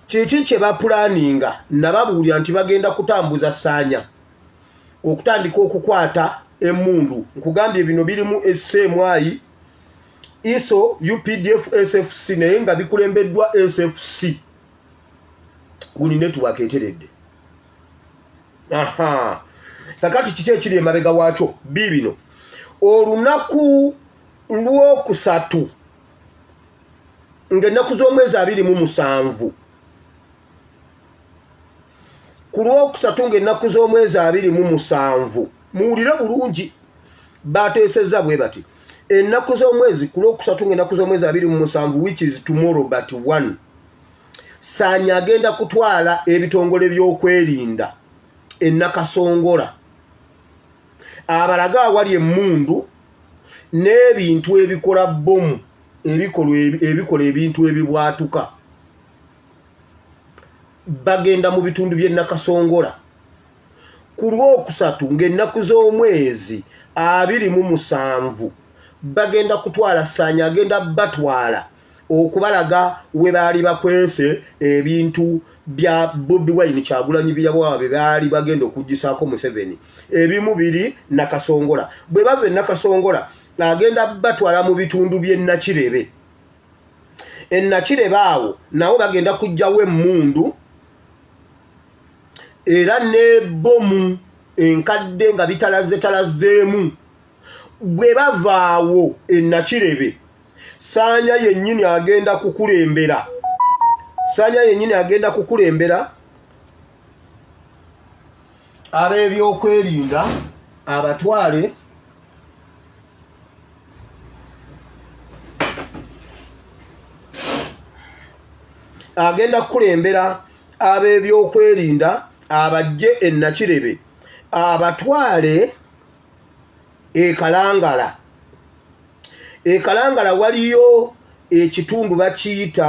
kiki kye bapulaninga nababuulira nti bagenda kutambuza saanya okutandika okukwata emundu nkugambye bino birimu esemwayi iso updf sfc naye nga bikulembeddwa sfc kuli network eteredde aha kakati kiki ekiri emabega waakyo biibino olunaku lwokusatu ng'ennaku z'omwezi abiri mu musanvu ku lwokusatu ng'ennaku z'omwezi abiri mu musanvu muwulire bulungi baateesezza bwe bati ennaku z'omwezi ku lwokusatu ng'ennaku z'omwezi abiri mu musanvu which is tomorrow but one saanyi agenda kutwala ebitongole by'okwerinda ennakasongola abalaga awali emmundu n'ebintu ebikola bbomu ebikolwa ebikola ebintu ebibwatuka bagenda mu bitundu by'e Nakasongola ku lw'okusatu ng'ennaku z'omwezi abiri mu musanvu bagenda kutwala ssaanya agenda batwala okubalaga we baali bakwese ebintu bya bobi wine kyagulanyi byabawa be baali bagenda okugisaako museveni ebimu biri nakasongola bwe bava e nakasongola agenda batwala mu bitundu by'e Nakirebe e Nakirebe awo nawo bagenda kujjawo emmundu era n'ebbomu enkadde nga bitalaze talazeemu bwe bavaawo e Nakirebe saanya yennyini agenda kukulembera saanya yennyini agenda kukulembera ab'ebyokwerinda abatwale agenda kukulembera ab'ebyokwerinda abajje e nakirebe abatwale ekalangala ekalangala waliyo ekitundu bakiyita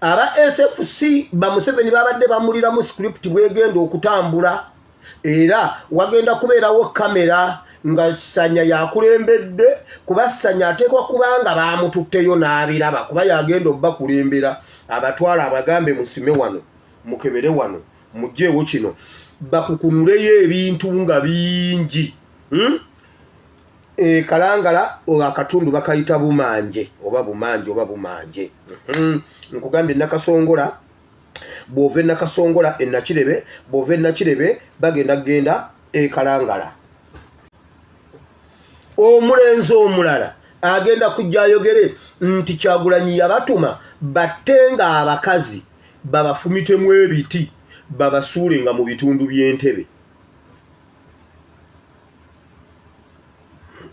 aba sfc bamuseveni babadde bamuliramu script bwegenda okutambula era wagenda kubeerawo kamera nga sanya yakulembedde kuba sanya ateekwa kubanga bamututteyo n'abiraba kuba yagenda obakulembera abatwala abagambe musime wano mukebere wano mugyeewo kino bakukunuleyo ebintu nga bingi hmm? e kalangala akatundu bakayita bumanje oba bumanje oba bumanje mhm. nkugambye nakasongola bwova enakasongola enakirebe bwova enakirebe bagenda kugenda e kalangala omulenzi omulala agenda kujja ayogere nti kyagulanyi yabatuma batte nga abakazi babafumitemu ebiti babasuule nga mu bitundu by'entebe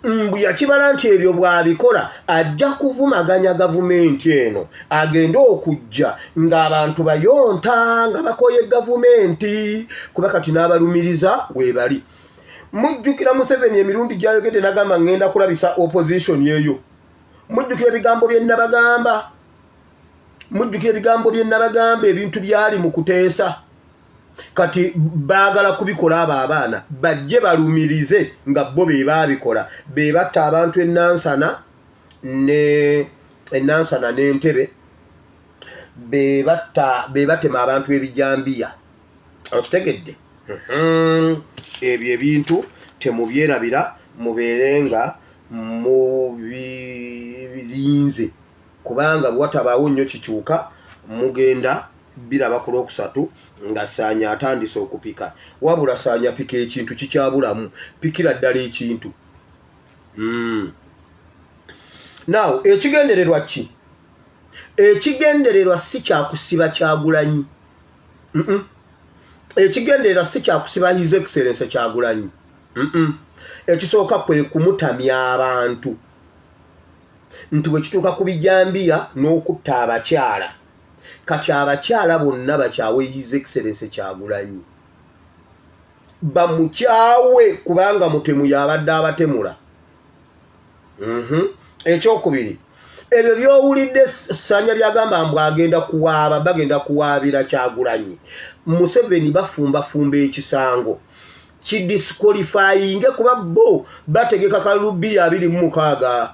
mbu yakibala nti ebyo bwabikola ajja kuvumaganya gavumenti eno agende okujja ng'abantu bayonta nga bakoye gavumenti kuba kati n'abalumiriza webali mujjukira museveni emirundi gyayogedde nagamba ngenda kulabisa opposition eyo mujjukira ebigambo byenabagamba mujjukira ebigambo byenabagamba ebintu byali mu kuteesa kati baagala kubikola abo abaana bajje balumirize nga bo be baabikola be batta abantu enansana ne enansana n'entebe be batta be batema abantu ebijambiya okitegedde mhm. ebyo ebintu temubyerabira mubeere nga mubirinze kubanga bwatabaawo nnyo kikyuka mugenda biraba ku lwokusatu nga saanya atandise okupika wabula saanya pika ekintu kikyabulamu pikira ddala ekintu hmm. naw ekigendererwa ki ekigendererwa si kyakusiba kyagulanyi ekigendererwa si kyakusiba his excellence kyagulanyi ekisooka kwe kumutamya abantu nti bwe kituuka ku bijambiya n'okutta abakyala kati abakyala bonna bakyawe his excellence kyagulanyi bamukyawe kubanga mutemu yabadde abatemula mhm. ekyokubiri ebyo byowulidde sanya byagamba mbu agenda kuwaaba bagenda kuwaabira kyagulanyi museveni bafumbafumba ekisango kidisqualifyinge kuba bo bategeka kalubiya abiri mumukaaga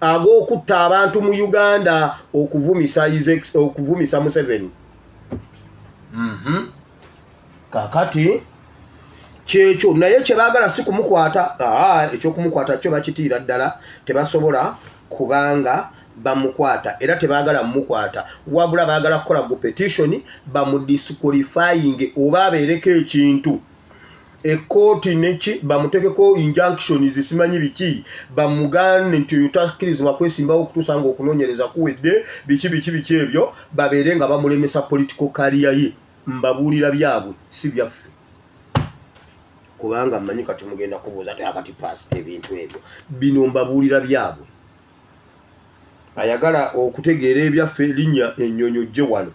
ag'okutta abantu mu uganda okuvumisa okuvumisa museveni mhm. kakati kyekyo naye kyebagala si kumukwata ekyokumukwata kyo bakitiira ddala tebasobola kubanga bamukwata era tebagala mukwata wabula bagala kukola gu petitioni bamudisqualifying oba abeereko ekintu ekooti neki bamutekeko injunctions simanyi biki bamugane nti oyo takirizibwa kwesimbawo okutuusa nga okunonyereza kuwedde biki biki biki ebyo babeere nga bamulemesa political kaliya ye mbabuulira byabwe si byaffe kubanga mmanyi kati mugenda kubuuza ti akati past ebintu ebyo bino mbabuulira byabwe ayagala okutegeera ebyaffe linnya ennyonyi ojje wano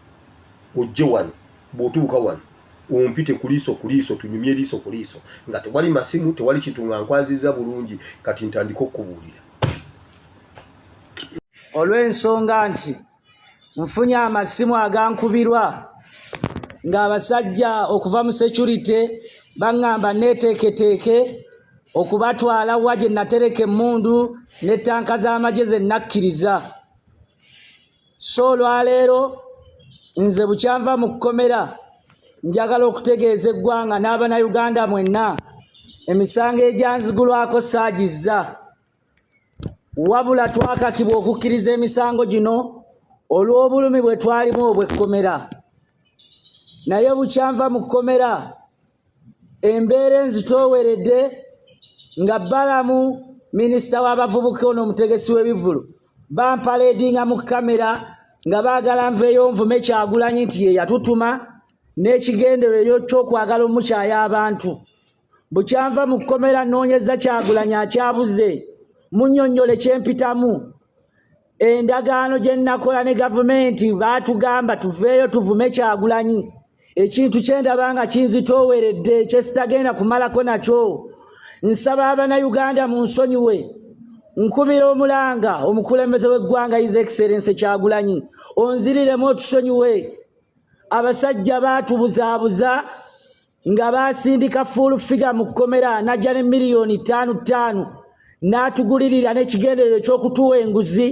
ojje wano bw'otuuka wano ompite ku liiso ku liiso tunyumye liiso ku liiso nga tewali masimu tewali kintu nga nkwaziza bulungi kati ntandika okukubuulira olw'ensonga nti nfunye amasimu agankubirwa ng'abasajja okuva mu securite baŋŋamba neeteeketeeke okubatwala wa gye natereka emmundu ne ttanka z'amagye ze nakkiriza so olwaleero nze bukyanva mu kkomera njagala okutegeeza eggwanga n'abanauganda mwenna emisango egyanzigulwako saagizza wabula twakakibwa okukkiriza emisango gino olw'obulumi bwe twalimu obw'ekkomera naye bukyanva mu kkomera embeera enzitooweredde nga balamu minisita w'abavubuka ono omutegesi w'ebivulu bampaleedinga mu kamera nga baagala nveeyo nvume kyagulanyi nti ye yatutuma n'ekigendereryo ky'okwagala omukyaya abantu bukyanva mu kkomera nnoonyeza kyagulanyi akyabuze munnyonnyole kyempitamu endagaano gye nnakola ne gavumenti baatugamba tuveeyo tuvume kyagulanyi ekintu kyendaba nga kinzitooweredde kyesitagenda kumalako nakyo nsaba abanayuganda mu nsonyiwe nkubira omulanga omukulembeze w'eggwanga is excellence kyagulanyi onziriremu otusonyiwe abasajja baatubuzaabuza nga baasindika full figure mu kkomera najja ne miliyoni ttaanu ttaanu n'atugulirira n'ekigenderero eky'okutuwa enguzi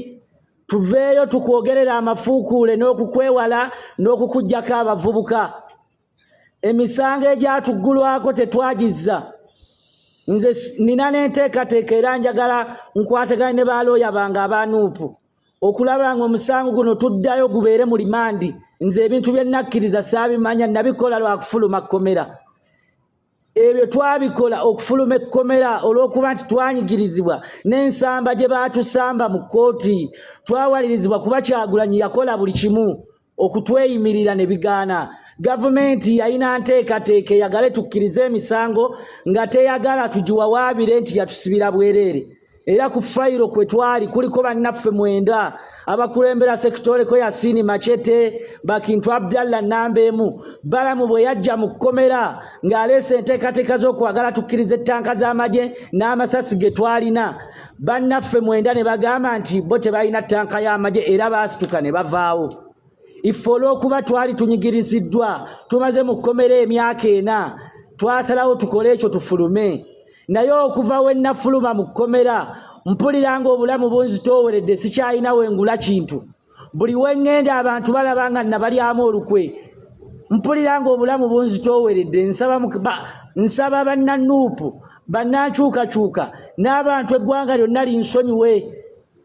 tuveeyo tukwogerera amafuukuule n'okukwewala n'okukugyako abavubuka emisango egyatuggulwako tetwagizza nze nina n'enteekateeka era njagala nkwatagane ne baalooya bange abanuupu okulaba nga omusango guno tuddayo gubeere mu limandi nze ebintu bye nakkiriza saabimanya nabikola lwakufuluma kkomera ebyo twabikola okufuluma ekkomera olw'okuba nti twanyigirizibwa n'ensamba gye baatusamba mu kkooti twawalirizibwa kuba kyagulanyi yakola buli kimu okutweyimirira ne bigaana gavumenti yalina nteekateeka eyagale tukkirize emisango nga teyagala tugiwawaabire nti yatusibira bwereere era ku fayiro kwe twali kuliko bannaffe mwenda abakulembera sekitoleko yasiini macete bakintu abdallah namba emu balamu bwe yajja mu kkomera ng'aleese enteekateeka z'okwagala tukkiriza ettanka z'amagye n'amasasi ge twalina bannaffe mwenda ne bagamba nti bo tebalina ttanka y'amagye era baasituka ne bavaawo iffe olw'okuba twali tunyigiriziddwa tumaze mu kkomera emyaka ena twasalawo tukole ekyo tufulume naye okuva we nnafuluma mu kkomera mpulira ng'obulamu bunzitooweredde sikyalina wengula kintu buli wengenda abantu balaba nga nabalyamu olukwe mpulira nga obulamu bunzitooweredde nsaba nsaba bannanuupu bannankyukakyuka n'abantu eggwanga lyonna linsonyiwe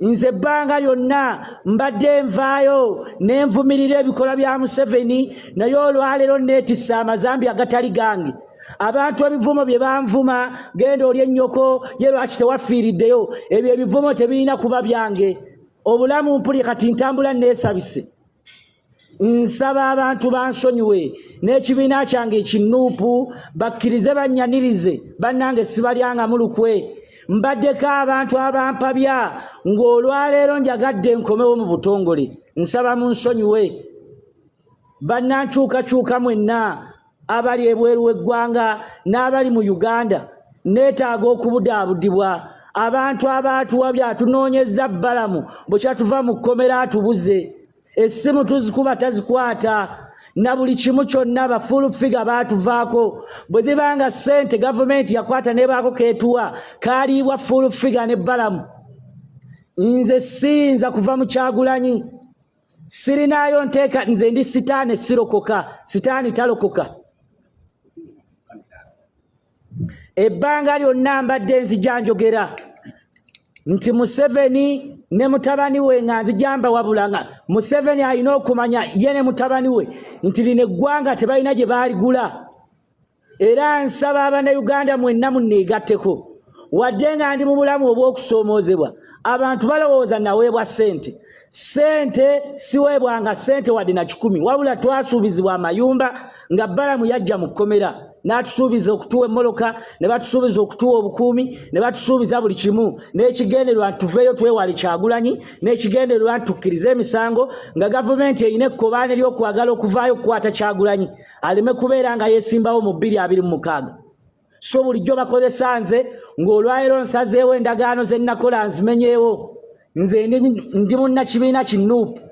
nze ebbanga lyonna mbadde nvaayo nenvumirira ebikolwa bya museveni naye olwaleero neetisse amazambi agatali gange abantu ebivumo bye banvuma genda oli ennyoko ye lwaki tewafiiriddeyo ebyo ebivumo tebirina kuba byange obulamu mpuli kati ntambula neesabise nsaba abantu bansonyiwe n'ekibiina kyange ekinuupu bakkirize bannyanirize bannange sibalyangamu lukwe mbaddeko abantu abampabya ng'olwaleero njagadde nkomewo mu butongole nsaba mu nsonyiwe bannankyukakyuka mwenna abali ebweru w'eggwanga n'abali mu uganda neetaaga okubudaabudibwa abantu abaatuwa byatunoonyeza bbalamu bwekyatuva mu kkomera atubuze essimu tuzikuba tazikwata na buli kimu kyonna bafuulu figa baatuvaako bwe ziba nga ssente gavumenti yakwata nebaako keetuwa kaaliibwa fuulu figa ne bbalamu nze siyinza kuva mu kyagulanyi sirinaayo nteeka nze ndi sitaani sirokoka sitaani talokoka ebbanga lyonna mbadde nzija njogera nti museveni ne mutabani we nga nzijamba wabula nga museveni alina okumanya ye ne mutabani we nti lino eggwanga tebalina gye baaligula era nsaba abanauganda mwenna muneegatteko wadde nga ndi mu bulamu obw'okusoomoozebwa abantu balowooza naweebwa ssente ssente siweebwanga ssente wadde na kikumi wabula twasuubizibwa amayumba nga balamu yajja mu kkomera n'atusuubiza okutuwa emmoloka ne batusuubiza okutuwa obukuumi ne batusuubiza buli kimu n'ekigendererwa nti tuveeyo twewale kyagulanyi n'ekigendererwa nti tukkirize emisango nga gavumenti erina ekkobaane ly'okwagala okuvaayo okukwata kyagulanyi aleme kubeera nga yesimbawo mu bbiri abiri mu mukaaga so bulijjo bakozesa nze ng'olwaliro nsazeewo endagaano ze nnakola nzimenyeewo nze ndi munnakibiina kinuupu